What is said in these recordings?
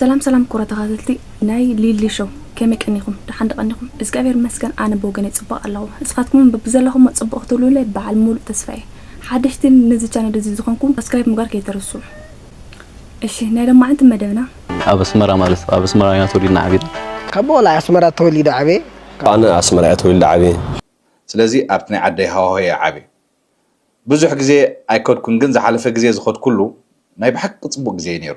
ሰላም ሰላም ኩቡራት ተካታተልቲ ናይ ሊሊ ሾው ከመይ ቀኒኩም ደሓን ዶ ቀኒኩም እዝግኣብሄር ይመስገን ኣነ ብወገነይ ጽቡቅ ኣለኩ ንስካትኩም ውን በብዘለኩሞ ጽቡቅ ክትህልዉለይ በዓል ሙሉእ ተስፋ እየ ሓደሽቲ ነዚ ቻነል እዚ ዝኮንኩም ሳብስክራይብ ምግባር ከይትርስዑ እሺ ናይ ሎማዓንቲ መደብና ኣብ ኣስመራ ማለት ኣብ ኣስመራ ኢና ተወሊድና ዓቢና። ካብ ቆልዓ ኣስመራ ተወሊደ ዓብየ። ኣነ ኣስመራ እየ ተወሊደ ዓብየ። ስለዚ ኣብቲ ናይ ዓደይ ሃዋሁ እየ ዓብየ። ብዙሕ ግዜ ኣይከድኩን ግን ዝሓለፈ ግዜ ዝኸድኩሉ ናይ ብሓቂ ጽቡቅ ግዜ እዩ ነይሩ።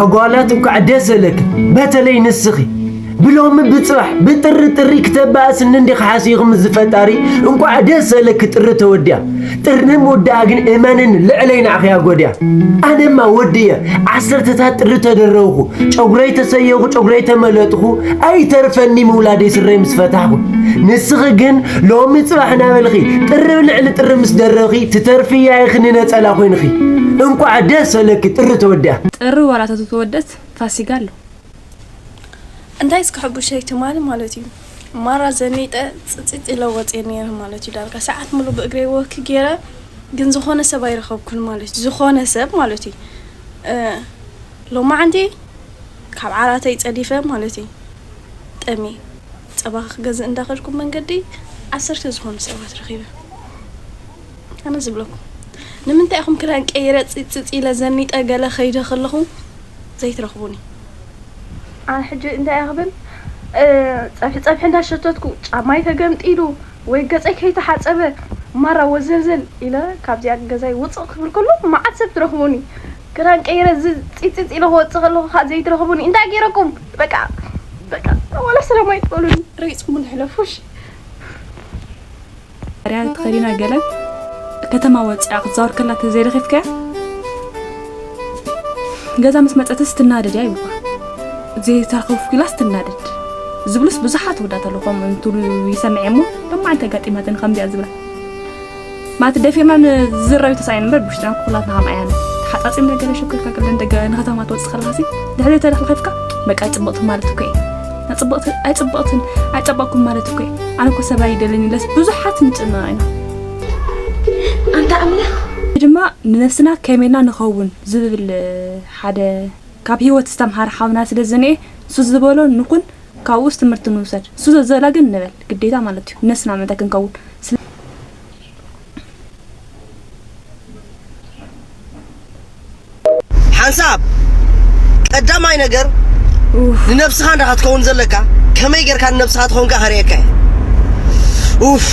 ኣጓላት እንኳዕ ደስ ዘለክን በተለይ ንስኺ ብሎሚ ብፅባሕ ብጥሪ ጥሪ ክተባእስኒ እንዲኺ ሓሲኹ ምስ ዝፈጣሪ እንኳዕ ደስ ዘለኪ ጥሪ ተወዲያ ጥሪ ምውድኣ ግን እመንን ልዕለይ ናዕኺያ ጎድያ ኣነማ ወዲ እየ ዓሰርተታት ጥሪ ተደረውኹ ጨጉረይ ተሰየኹ ጨጉረይ ተመለጥኹ ኣይተርፈኒ ምውላደይ ስረይ ምስ ፈታሕኹ ንስኺ ግን ሎሚ ጽባሕ እናበልኺ ጥርብ ልዕሊ ጥርብ ምስ ደረብኺ ትተርፊ እያ ኢኺ ንነጸላ ኮይንኺ። እንቋዕ ደስ በለኪ ጥሪ ተወዲኣ። ጥሪ ዋላ ተተወደት ፋሲጋ ኣሎ። እንታይ እስከ ሕቡሸይ ትማሊ ማለት እዩ ማራ ዘኒጠ ጽጽጽ ኢለ ወጽየ ነይረ ማለት እዩ ዳርጋ ሰዓት ሙሉ ብእግረይ ወክ ገይረ ግን ዝኾነ ሰብ ኣይረኸብኩን ማለት እዩ ዝኾነ ሰብ ማለት እዩ ሎማዓንቲ ካብ ዓራተይ ጸዲፈ ማለት እዩ ጠምየ ጸባ ክገዝእ እንዳ ከድኩ መንገዲ ዓሰርተ ዝኾኑ ሰባት ረኺበ ኣነ ዝብለኩም ንምንታይ ኢኹም ክዳን ቀይረ ጽጽጽ ኢለ ዘኒጠ ገለ ከይደ ከለኹ ዘይትረኽቡኒ። ኣነ ሕጂ እንታይ እየ ክብል ጸብሒ ጸብሒ እንዳ ሸተትኩ ጫማይ ተገምጢሉ ወይ ገጸይ ከይተሓጸበ ማራ ወዘልዘል ኢለ ካብዚኣ ገዛይ ውጽእ ክብል ከሎ መዓት ሰብ ትረኽቡኒ። ክዳን ቀይረ ጺጺጺ ኢለ ክወጽእ ከለኩ ከኣ ዘይትረክቡኒ እንታይ ገይረኩም በቃ በቃ ዋላ ሰላም ኣይትበሉኒ ረጊጽኩምኒ ሕለፉ እሺ ርያ ተኸዲና ገለ ከተማ ወጺኣ ክትዛወር ከላ ተዘይረኺብካያ ገዛ ምስ መጸትስ ትናደድ እያ ይብልኳ ዘይተረኸብኩ ኢላስ ትናደድ ዝብሉስ ብዙሓት ወዳት ኣለኹም እንትብሉ ይሰምዐ እሞ ሎማዓንቲ ኣጋጢማትን ከምዚኣ ዝብላ ማለት ደፊርና ንዝራዩ ተሳኢን እምበር ብውሽጥና ኩላትና ከም ኣያና ተሓጻጺምና ገለ ሸኮርካ ክለን ደገ ንከተማ ትወጽእ ከለኻሲ ድሕሪ ተለኽለኺፍካ በቃ ጽብቕቲ ማለት እኮ እየ ጽብቕቲ ኣይጽብቕትን ኣይጸበቕኩም ማለት እኮ እየ ኣነ እኮ ሰብኣይ ይደልን ኢለስ ብዙሓት ንጭነቕ ኢና ኣንታ ኣምላኽ ድማ ንነፍስና ከመይና ንኸውን ዝብል ሓደ ካብ ህይወት ዝተምሃረ ሓውና ስለ ዝንኤ ንሱ ዝበሎ ንኹን ካብኡስ ትምህርቲ ንውሰድ ንሱ ዘዘላ ግን ንበል ግዴታ ማለት እዩ ነስና ምእንታይ ክንከውን ስለ። ሓንሳብ ቀዳማይ ነገር ንነብስኻ እንዳ ክትከውን ዘለካ ከመይ ጌርካ ንነብስኻ ትኾንካ ከርእየካ እየ ኡፍ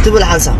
ትብል ሓንሳብ።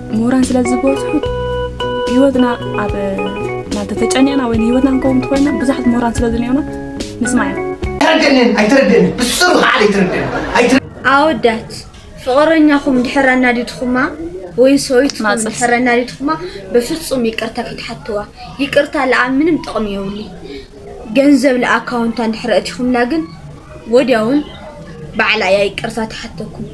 ምሁራን ስለ ዝበዝሑ ህይወትና ኣብ ማለት ተጨኒቕና ወይ ንህይወትና ክንከውን እንተኮይና ብዙሓት ምሁራን ስለ ዝኒኦና ንስማዕ ኢና ኣይተረደንን ኣይተረደንን ብስሩ ከዓ ኣይተረደንን ኣወዳት ፍቕረኛኹም ድሕር ኣናዲድኹማ ወይ ሰውይትኩም ማጽፍ። ድሕር ኣናዲድኹማ በፍጹም ይቅርታ ከይትሓትዋ ይቅርታ ለኣ ምንም ጥቕሚ የብሉ ገንዘብ ንኣካውንታ እንድሕር ኣእቲኹምላ ግን ወድያውን ባዕላ እያ ይቅርታ ትሓተኩም።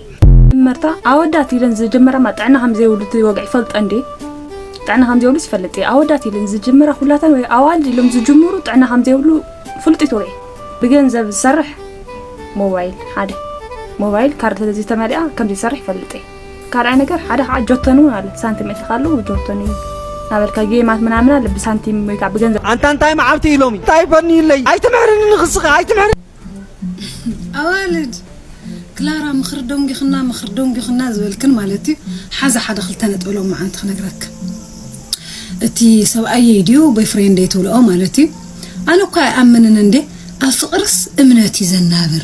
መጀመርታ ኣወዳት ኢለን ዝጅምራማ ጥዕና ከምዘይብሉ እቲ ወግዒ ይፈልጠን ድዩ ጥዕና ከምዘይብሉስ ይፈልጥ እዩ ኣወዳት ኢለን ዝጅምራ ኩላተን ወይ ኣዋልድ ኢሎም ዝጅምሩ ጥዕና ከምዘይብሉ ፍልጢት ወግዒ ብገንዘብ ዝሰርሕ ሞባይል ሓደ ሞባይል ካርድ ስለዘይተመሊኣ ከምዘይሰርሕ ይፈልጥ እየ ካልኣይ ነገር ሓደ ከዓ ጆቶን እውን ኣሎ ሳንቲም እትኻ ኣሎ ጆቶን እዩ ናበልካ ጌማት ምናምን ኣለ ብሳንቲም ወይ ከዓ ብገንዘብ ኣንታ እንታይ መዓልቲ እዩ ሎሚ እንታይ በኒዩለይ ኣይትምሕርኒ ንክስኻ ኣይትምሕር ኣዋልድ ክላራ ምኽሪ ደንጊኹና ምኽሪ ደንጊኹና ዝበልክን ማለት እዩ ሓዛ ሓደ ክልተ ነጥቢ ሎማዓንቲ ክነግረክን እቲ ሰብኣየይ ድዩ ቦይፍሬንደይ ትብልኦ ማለት እዩ ኣነ እኳ ኣይኣምንን እንዴ ኣብ ፍቕርስ እምነት እዩ ዘናብር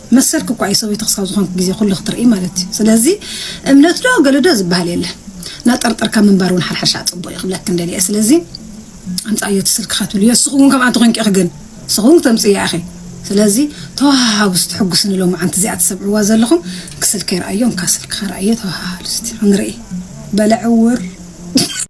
መሰልኪ እኳ እዩ ሰበይቱ ክሳብ ዝኾንኪ ግዜ ኩሉ ክትርኢ ማለት እዩ ስለዚ እምነት ዶ ገለ ዶ ዝበሃል የለን ናጠርጠርካ ምንባር እውን ሓርሓሻ ፅቡቅ እዩ ክብለክን ደልየ ስለዚ ኣምፃእዮ እቲ ስልክኻ ትብልዮ ንስኹ እውን ከምኣ እንተኮይንኪ ኢኺ ግን ንስኹ እውን ተምፅእያ ኢኺ ስለዚ ተወሃሃቡ እስቲ ሕጉስኒ ሎማዓንቲ እዚኣ ትሰምዕዋ ዘለኹም ክስልከይ ረኣዮ እንካ ስልክኻ ረኣዮ ተወሃሃሉ እስቲ ክንርኢ በለ ዕውር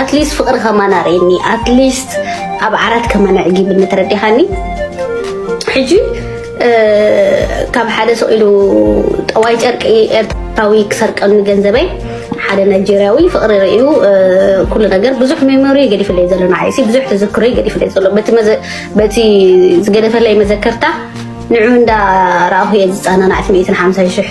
ኣትሊስት ፍቅሪ ከማን ኣርእየኒ ኣትሊስት ኣብ ዓራት ከማን ኣዕጊብኒ ተረዲኻኒ ሕጂ ካብ ሓደ ሰው ኢሉ ጠዋይ ጨርቂ ኤርትራዊ ክሰርቀኒ ገንዘበይ ሓደ ናይጀርያዊ ፍቅሪ ርእዩ ኩሉ ነገር ብዙሕ ሜሞሪ ገዲፍለይ ዘሎ ንዓይ ብዙሕ ተዘክሮ ገዲፍለይ ዘሎ በቲ ዝገደፈለይ መዘከርታ ንዑ እንዳ ረኣኹ እየ ዝፀናናዕቲ ሚእትን ሓምሳን ሽሕ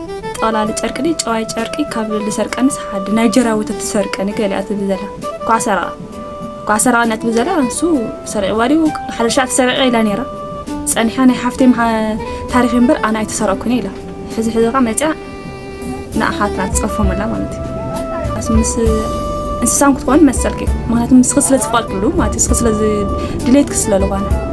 ጠቕላሊ ጨርቂ ድዩ ጨዋይ ጨርቂ ካብ ልሰርቀንስ ሓዲ ናይጀርያ ወተት ትሰርቀኒ ገሊኣ ትብል ዘላ እኳ ሰረቐ እኳ ሰረቐኒ ትብል ዘላ እንሱ ሰሪቕዋ ድዩ ሓደ ሻዕ ተሰሪቐ ኢላ ነይራ ጸኒሓ ናይ ሓፍተይ ታሪኽ እምበር ኣነ ኣይተሰረቕኩን ኢላ ሕዚ ሕዚ ከ መጽያ ንኣሓትና ትጸፎመላ ማለት እዩ ምስ እንስሳን ክትኮን መሰልክ እዩ ምክንያቱ ንስኺ ስለ ዝፈልጥሉ ማለት ንስኺ ስለ ድሌትክ ስለ ዝኾነ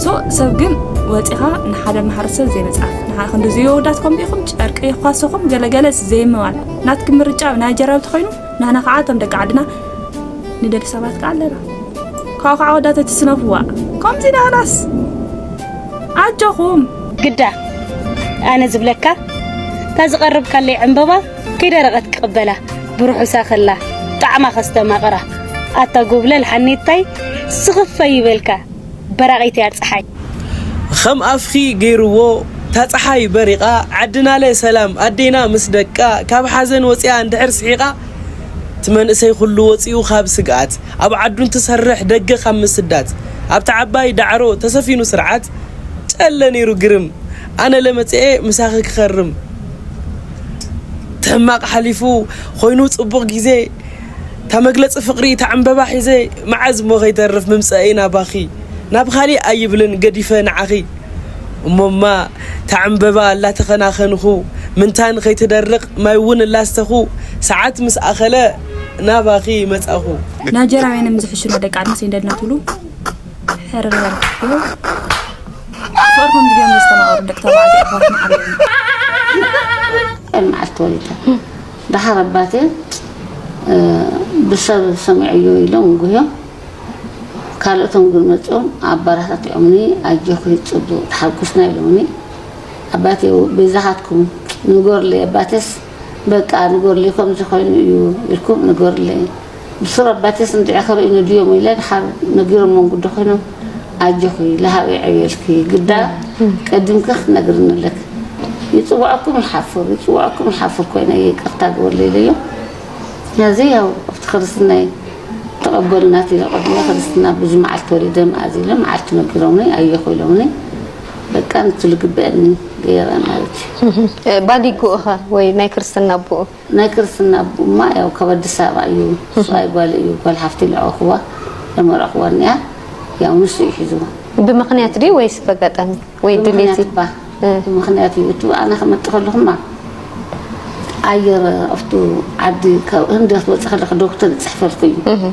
ሶ ሰብ ግን ወፂኻ ንሓደ ማሕረሰብ ዘይመፅኣፍ ንሓ ክንዲ ዝየወዳት ከምኡ ኢኹም ጨርቂ የኳሰኹም ገለገለስ ዘይምባል ናትክ ምርጫ ናይ ጀራዊ ተኮይኑ ናህና ከዓ እቶም ደቂ ዓድና ንደሊ ሰባት ከዓ ኣለና ካብኡ ከዓ ወዳተ ትስነፍዋ ከምዚ ናህናስ ኣጆኹም ግዳ ኣነ ዝብለካ እታ ዝቀረብካለይ ዕምበባ ከይደረቐት ክቕበላ ብርሑሳ ከላ ጣዕማ ከስተማቕራ ኣታ ጎብለል ሓኔታይ ስኽፈይ ይበልካ በራቒት እያ ጸሓይ። ኸም ኣፍኺ ገይርዎ እታ ጸሓይ በሪቓ ዓድናለ ሰላም ኣዴና ምስ ደቃ ካብ ሓዘን ወጺኣ እንድሕር ስሒቓ እቲ መንእሰይ ኹሉ ወጺኡ ኻብ ስግኣት ኣብ ዓዱ እንትሰርሕ ደገ ኻብ ምስዳት ኣብታ ዓባይ ዳዕሮ ተሰፊኑ ስርዓት ጨለ ነይሩ ግርም ኣነለ መጺኤ ምሳኺ ክኸርም ተሕማቅ ሓሊፉ ኮይኑ ጽቡቅ ግዜ እታ መግለጺ ፍቅሪ እታ ዕንበባ ሒዘ መዓዝ እሞ ከይተርፍ ምምጸኤይ ናባኺ ናብ ካሊእ ኣይብልን ገዲፈ ንዓኺ እሞማ እታ ዕንበባ እላተኸናኸንኹ ምንታን ከይትደርቅ ማይ እውን እላስተኹ ሰዓት ምስ ኣኸለ ናባኺ መጻኹ። ናይጀርያውያን እዮም ዝሕሽና ደቂ ዓድና ሰይንደድና ትብሉ። ድሕሪ በርሑ ፍቕሪ ከምዚ ገይሮም ዘስተማቕሩ ደቂ ተባዕትዮ ኣሕዋትና ኣለዉ። ከም መዓልቲ ተወሊደ ደሓር ኣባቴ ብሰብ ሰሚዐዮ ኢሎም ጉህዮ ካልኦቶም ግን መፅኦም ኣበረታቲዖምኒ ኣጆኺ ፅቡቕ ተሓጉስና ኢሎምኒ ኣባቴ በይዛኻትኩም ንገሩለይ ኣባቴስ በቃ ንገሩለይ ከምዚ ኮይኑ እዩ ኢልኩም ንገሩለይ ብሱር ኣባተይ ጽንጥዒ ክርኢ ንድዮም ኢለ ድሓር ነጊሮሞም ግዲ ኮይኖም ኣጆኺ ለሃብ የዕብየልኪ ግዳ ቀዲምኪ ክትነግርኒ ኣለኪ ይጽውዐኩም ይሓፍር ይጽውዐኩም ይሓፍር ኮይነ ይቅርታ ግበርለይ ኢለዮም ሐዚ ያው ኣብቲ ክርስትናይ ተቀበሉና ኢለ ቅድሚ ክርስትና ብዙ መዓልቲ ወሊደ መኣዝ ኢለ መዓልቲ ነጊሮምኒ ኣየኹ ኢሎምኒ በቃ ንቲ ልግበአኒ ገይረ ማለት እዩ ባዲጉኡ ኸ ወይ ናይ ክርስትና ኣቡኡ ናይ ክርስትና ኣቡማ ያው ካብ ኣዲስ ኣበባ እዩ ሰብኣይ ጓል እዩ ጓል ሓፍቲ ለዕበኹዋ ለመርዕኹዋ እኒኣ ያው ንሱ እዩ ሒዝዋ። ብምኽንያት ድዩ ወይስ በጋጣሚ ወይ ድሌት እዩ? ብምኽንያት እዩ እቱ ኣነ ክመፅእ ከለኹማ ኣየር ኣብቱ ዓዲ ካብ ህንዲ ክትወፂ ከለኺ ዶክተር ይፅሕፈልኪ እዩ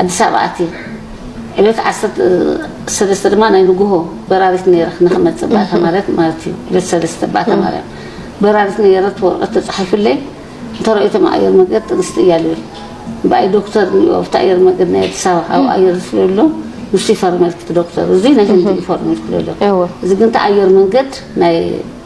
ኣዲስ ኣበባ ኣትየ ዕለት ዓሰርተ ሰለስተ ድማ ናይ ንጉሆ በራሪት ነይረ ንክመፅእ ባእታ ማርያም ማለት እዩ ዕለት ሰለስተ ባእታ ማርያም በራሪት ነይረ እቲ ወረቐት ተፃሒፉለይ እንተረኦይቶም ኣየር መንገድ ጥንስቲ እያ ልብል ብኣይ ዶክተር እኒኦ ኣብቲ ኣየር መንገድ ናይ ኣዲስ ኣበባ ካብኡ ኣየር ዝፍለሎ ንሱ ይፈርመልኪ እቲ ዶክተር እዚ ናይ ህንዲ እዩ ፈርሙ ይልክለሎ እዚ ግን እቲ ኣየር መንገድ ናይ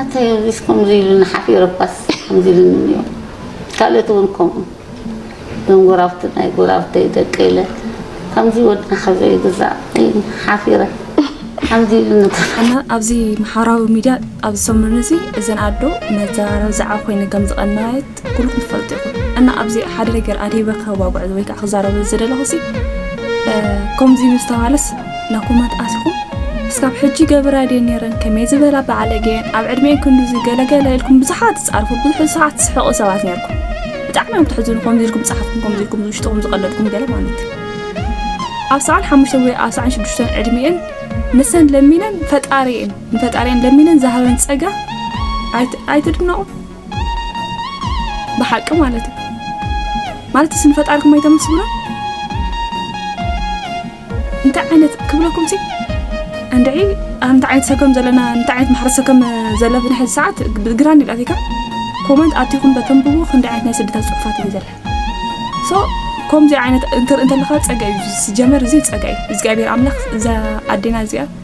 ኣንታይ እዚስ ከምዚ ኢሉኒ ሓፊረ እኳስ ከምዚ ኢሉኒ እንዮ ካልኦት እውን ከምኡ እዞም ጎራብቲ ናይ ጎራብተይ ደቂ ኢለ ከምዚ ወድና ካብ ዘይግዛእ ኢኒ ሓፊረ ከምዚ ኢሉኒ ኣነ ኣብዚ ማሕበራዊ ሚድያ ኣብዚ ሰሙን እዚ እዘን ኣዶ መዘራረቢ ዛዕባ ኮይነን ከም ዝቐነያየት ኩሉኩም ትፈልጡ ኢኹም እና ኣብዚ ሓደ ነገር ኣደይ በካ ክዋጉዕ ወይ ከዓ ክዛረበ ዝደለኹ ሲ ከምዚ ምስተባሃለስ ናብ ኮመንት ኣትኹም እስካብ ሕጂ ገብራ ድየ ነይረን ከመይ ዝበላ በዓለገየን ኣብ ዕድሜን ክንዱዚ ገለገለ ኢልኩም ብዙሓት ትፃርፉ ብዙሕ ሰዓት ትስሕቁ ሰባት ነርኩም ብጣዕሚ እዮም ትሕዝኑ ከምዚ ኢልኩም ፀሓፍኩም ከምዚ ኢልኩም ዝውሽጥኹም ዝቀለድኩም ገለ ማለት ኣብ ሰዓን ሓሙሽተ ወይ ኣብ ሰዓን ሽዱሽተን ዕድሜኤን ንሰን ለሚነን ፈጣሪኤን ንፈጣሪኤን ለሚነን ዝሃበን ፀጋ ኣይትድነቑ ብሓቂ ማለት እዩ ማለት ስን ፈጣርኩም ኣይተመስግኑ እንታይ ዓይነት ክብለኩም ሲ እንድዒ እንታይ ዓይነት ሰከም ዘለና እንታይ ዓይነት ማሕረ ሰከም ዘለብን ሕዚ ሰዓት ግራ እንዲላቲካ ኮመንት ኣቲኹም በተንብቡ ክንዲ ዓይነት ናይ ስደታት ፅሑፋት እዩ ዘለ ሶ ከምዚ ዓይነት እንትርኢ እንተለካ ፀጋ እዩ ዝጀመር እዚ ፀጋ እዩ እግዚኣብሔር ኣምላኽ እዛ ኣዴና እዚኣ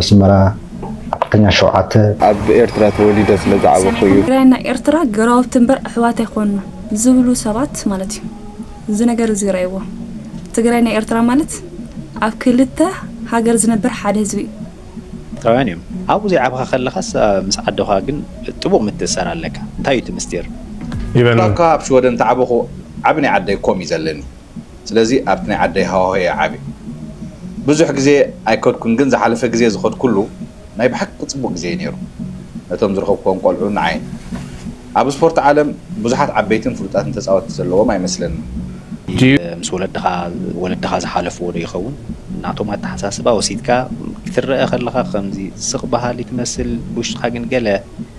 ኣስመራ ኣርበኛ ሸውዓተ። ኣብ ኤርትራ ተወሊደ ስለ ዝዓበኹ እዩ። ትግራይን ናይ ኤርትራ ገራውቲ እምበር ኣሕዋት ኣይኮንና ዝብሉ ሰባት ማለት እዩ። እዚ ነገር እዚ ርኣይዎ። ትግራይ ናይ ኤርትራ ማለት ኣብ ክልተ ሃገር ዝነብር ሓደ ህዝቢ እዩ። ኤርትራውያን እዮም። ኣብኡ ዘይዓብኻ ከለኻስ ምስ ኣደኻ ግን ጥቡቕ ምትእስሳር ኣለካ። እንታይ እዩ እቲ ምስጢር? ይበል። ዋላኳ ኣብ ሽወደን ተዓበኹ ዓቢ ናይ ዓደይ ኮም እዩ ዘለኒ። ስለዚ ኣብቲ ናይ ዓደይ ሃዋሁ እየ ዓብየ ብዙሕ ግዜ ኣይከድኩን ግን ዝሓለፈ ግዜ ዝኸድኩሉ ናይ ብሓቂ ጽቡቅ ግዜ እዩ ነይሩ ነቶም ዝረኸብክዎም ቆልዑን ንዓይን ኣብ ስፖርት ዓለም ብዙሓት ዓበይትን ፍሉጣትን ተጻወትቲ ዘለዎም ኣይመስለንን ምስ ወለድኻ ወለድኻ ዝሓለፍዎ ዶ ይኸውን ናቶም ኣተሓሳስባ ወሲድካ ክትረኣ ከለኻ ከምዚ ስቅ በሃሊ ትመስል ብውሽጥኻ ግን ገለ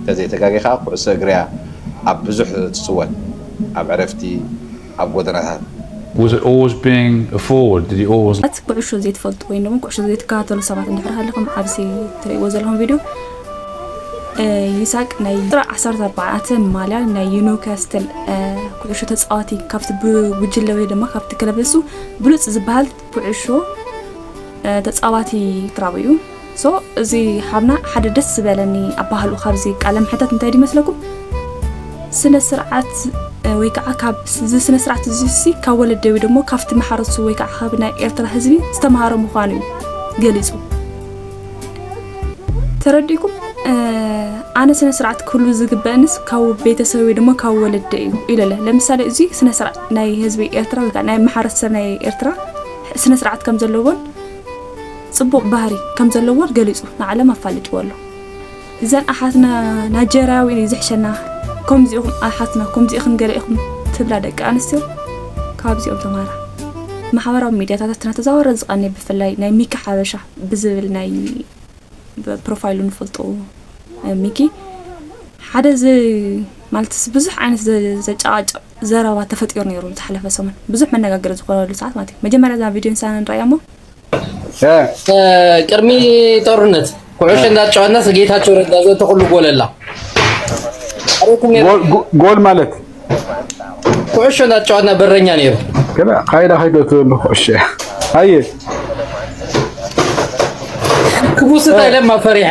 እንተዘይ ተጋጌ ከኣ ኩዕሶ እግሪ'ያ ኣብ ብዙሕ ትጽወት ኣብ ዕረፍቲ ኣብ ጎደናታት። Was it always being a forward? Did he always. ት ኩዕሾ ዘይትፈልጡ ወይም ደሞ ኩዕሾ ዘይትከታተሉ ሰባት እንድሕር ሃሊኹም ኣብዚ ትርእይዎ ዘለኹም ቪድዮ ይሳቅ ናይ ቁጽሪ ዓሰርተ ኣርባዕተ ማልያ ናይ ዩኒውካስትል ኩዕሾ ተጻዋቲ ካብቲ ብጉጅለ ወይ ደማ ካብቲ ክለብ ንሱ ብሉጽ ዝበሃል ኩዕሾ ተጻዋቲ ክራቡ እዩ ሶ እዚ ሓብና ሓደ ደስ ዝበለኒ ኣባህሉ ካብዚ ቃለ መሕተት እንታይ ድመስለኩም ስነ ስርዓት ወይ ከዓ ካብ እዚ ስነ ስርዓት እዚሲ ካብ ወለደ ወይ ደሞ ካብቲ መሓረሱ ወይ ከዓ ካብ ናይ ኤርትራ ህዝቢ ዝተምሃረ ምዃኑ እዩ ገሊፁ ተረዲእኩም ኣነ ስነ ስርዓት ክህሉ ዝግበእንስ ካብ ቤተሰብ ወይ ድማ ካብ ወለደ እዩ ኢለለ ለምሳሌ እዚ ስነ ስርዓት ናይ ህዝቢ ኤርትራ ወይ ከኣ ናይ ማሕረሰብ ናይ ኤርትራ ስነ ስርዓት ከም ዘለዎን ጽቡቅ ባህሪ ከም ዘለዎን ገሊጹ ንዓለም ኣፋሊጥዎ ኣሎ እዘን ኣሓትና ናጀርያዊ እዩ ዝሕሸና ከምዚ ኢኹም ኣሓትና ከምዚ ኢኽን ገለ ኢኹም ትብላ ደቂ ኣንስትዮ ካብዚኦም ተማሃራ ማሕበራዊ ሚድያታት እናተዛወረ ዝቀንየ ብፍላይ ናይ ሚኪ ሓበሻ ብዝብል ናይ ፕሮፋይሉ ንፈልጦ ሚኪ ሓደ ዚ ማለትስ ብዙሕ ዓይነት ዘጫቃጭቅ ዘረባ ተፈጢሩ ነይሩ ዝሓለፈ ሰሙን ብዙሕ መነጋገሪ ዝኾነሉ ሰዓት ማለት እዩ። መጀመርያ እዛ ቪድዮ ንሳና ንረኣያ እሞ ቅድሚ ጦርነት ኩዕሾ እንዳተጫወትና ጌታቸው ረዳ ዘተ ኩሉ ጎለላ ጎል ማለት ኩዕሾ እንዳተጫወትና በረኛ ነይሩ ከላ ካይዳ ካይዶ ትብሉ ኩዕሾ ኣየ ክቡስታ ለማ ፈሪሐ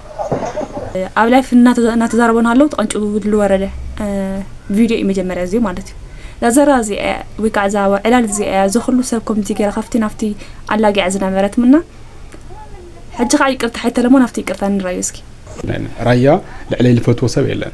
ኣብ ላይፍ እናተዛረበ ሃለው ተቐንጭቡ ዝወረደ ቪድዮ እዩ መጀመርያ እዚ ማለት እዩ ዛዘራ እዚ ወይ ከዓ እዛ ዕላል እዚ እያ ዘኽሉ ሰብ ኮሚቲ ገይራ ካብቲ ናብቲ ኣላጊዓ ዝነበረት ምና ሕጂ ከዓ ይቅርታ ሓይተለሞን ኣብቲ ይቅርታ ንራዩ እስኪ ራያ ልዕለይ ልፈትዎ ሰብ የለን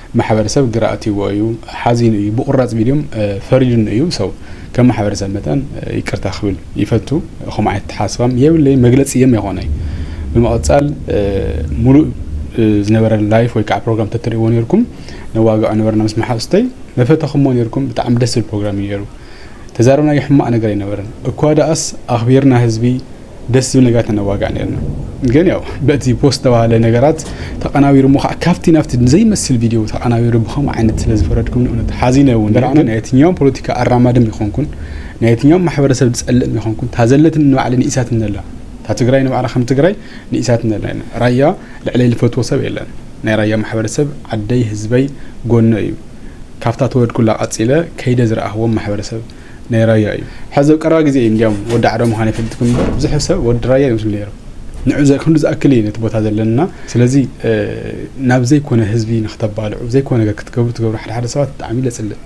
ማሕበረሰብ ግራ ኣእትይዎ እዩ፣ ሓዚኑ እዩ፣ ብቑራፅ ቪድዮም ፈሪዱኒ እዩ፣ ሰው ከም ማሕበረሰብ መጠን ይቅርታ ክብል ይፈቱ፣ ከምኡ ዓይነት ኣተሓሳስባ የብለይን፣ መግለፂ እየም የኾነይ። ብምቕፃል ሙሉእ ዝነበረ ላይፍ ወይ ከዓ ፕሮግራም ተትሪእዎ ነይርኩም ነዋግዖ ነበርና ምስ መሓዙተይ፣ መፈተኹሞ ነይርኩም፣ ብጣዕሚ ደስ ዝብል ፕሮግራም እዩ ነይሩ፣ ተዛረብናዮ ሕማቕ ነገር ኣይነበረን፣ እኳ ደኣስ ኣኽቢርና ህዝቢ፣ ደስ ዝብል ነገራት ነዋጋእ ነርና ግን ያው በቲ ፖስት ተባሃለ ነገራት ተቀናቢሩ እሞ ከዓ ካብቲ ናብቲ ዘይመስል ቪድዮ ተቀናቢሩ ብከምኡ ዓይነት ስለ ዝፈረድኩም ንእውነት ሓዚነ እውን በርዕና ናይ የትኛውም ፖለቲካ ኣራማድም ይኮንኩን ናይ የትኛውም ማሕበረሰብ ዝፀልእም ይኮንኩን ታዘለትን ንባዕለ ንኢሳት እነላ እታ ትግራይ ንባዕላ ከም ትግራይ ንኢሳት እነላ ኢና ራያ ልዕለይ ልፈትዎ ሰብ የለን ናይ ራያ ማሕበረሰብ ዓደይ ህዝበይ ጎኖ እዩ ካብታ ተወድኩላ ቀፂለ ከይደ ዝረኣህዎም ማሕበረሰብ ናይ ራያ እዩ ሕዚ ኣብ ቀረባ ግዜ እዩ እንዲያውም ወዲ ዓረ ምዃን የፈልጥኩም እምበር ብዙሕ ሰብ ወዲ ራያ ይመስሉ ነይሩ ንዑ ክንዱ ዝኣክል እዩ ነቲ ቦታ ዘለና ስለዚ ናብ ዘይኮነ ህዝቢ ንክተባልዑ ዘይኮነ ነገር ክትገብሩ ትገብሩ ሓደ ሓደ ሰባት ብጣዕሚ ለፅልእ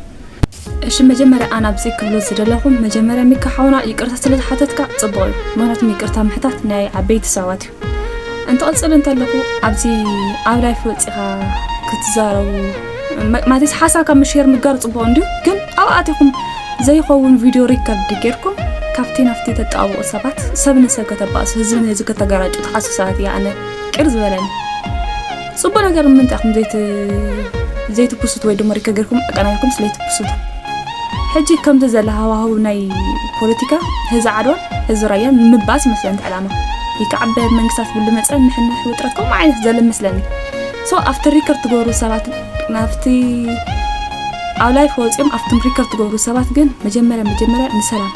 እሺ መጀመርያ ኣነ ኣብዚ ክብሎ ዝደለኹ መጀመርያ ሚካ ሓውና ይቅርታ ስለ ዝሓተትካ ፅቡቅ እዩ ምክንያቱም ይቅርታ ምሕታት ናይ ዓበይቲ ሰባት እዩ እንትቕጽል እንተለኹ ኣብዚ ኣብ ላይፍ ወጺኻ ክትዛረቡ ማለት ሓሳብ ካብ ምሽር ምግጋር ጽቡቕ እንድዩ ግን ኣብ ኣቲኹም ዘይኸውን ቪድዮ ሪከርድ ጌርኩም ካብቲ ናፍቲ ተጣብቑ ሰባት ሰብ ንሰብ ከተባእሱ ህዝቢ ንህዝቢ ከተገራጩ ተሓስብ ሰባት እያ ኣነ ቅር ዝበለኒ ጽቡቅ ነገር ንምንታይ ኢኹም ዘይት ዘይትፕሱት ወይ ድማ ሪከ ገርኩም ኣቀናኒኩም ስለይትፕሱት ሕጂ ከምዚ ዘለ ሃዋህው ናይ ፖለቲካ ህዚ ዓድዋ ህዚ ራያ ምባስ ይመስለኒ እቲ ዕላማ ይከዓበ መንግስታት ብሉ መፀ ምሕንሕ ውጥረት ከምኡ ዓይነት ዘለ መስለኒ ሶ ኣብቲ ሪከር ትገብሩ ሰባት ናብቲ ኣብ ላይፍ ወፂኦም ኣብቲ ሪከር ትገብሩ ሰባት ግን መጀመርያ መጀመርያ ንሰላም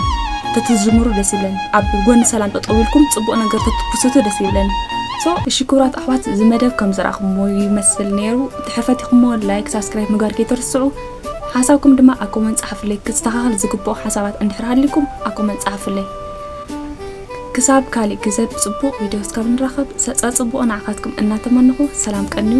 ተትዝምሩ ደስ ይብለኒ ኣብ ጎኒ ሰላም ጠጠው ኢልኩም ፅቡቅ ነገር ተትፕሱቱ ደስ ይብለኒ So እሺ ክብራት ኣሕዋት እዚ መደብ ከም ዝራክምዎ ይመስል ነይሩ ተሐፈቲክሞ ላይክ ሳብስክራይብ ምግባር ከይትርስዑ ሓሳብኩም ድማ ኣብ ኮመንት ጻሓፍለይ ክስተካከል ዝግብኦ ሓሳባት እንድሕር ሃሊኩም ኣብ ኮመንት ጻሓፍለይ ክሳብ ካሊእ ግዘ ብጽቡቅ ቪድዮ እስካብ ንራከብ ሰጸጽቡቅ ንዓካትኩም እናተመነኩ ሰላም ቀንዩ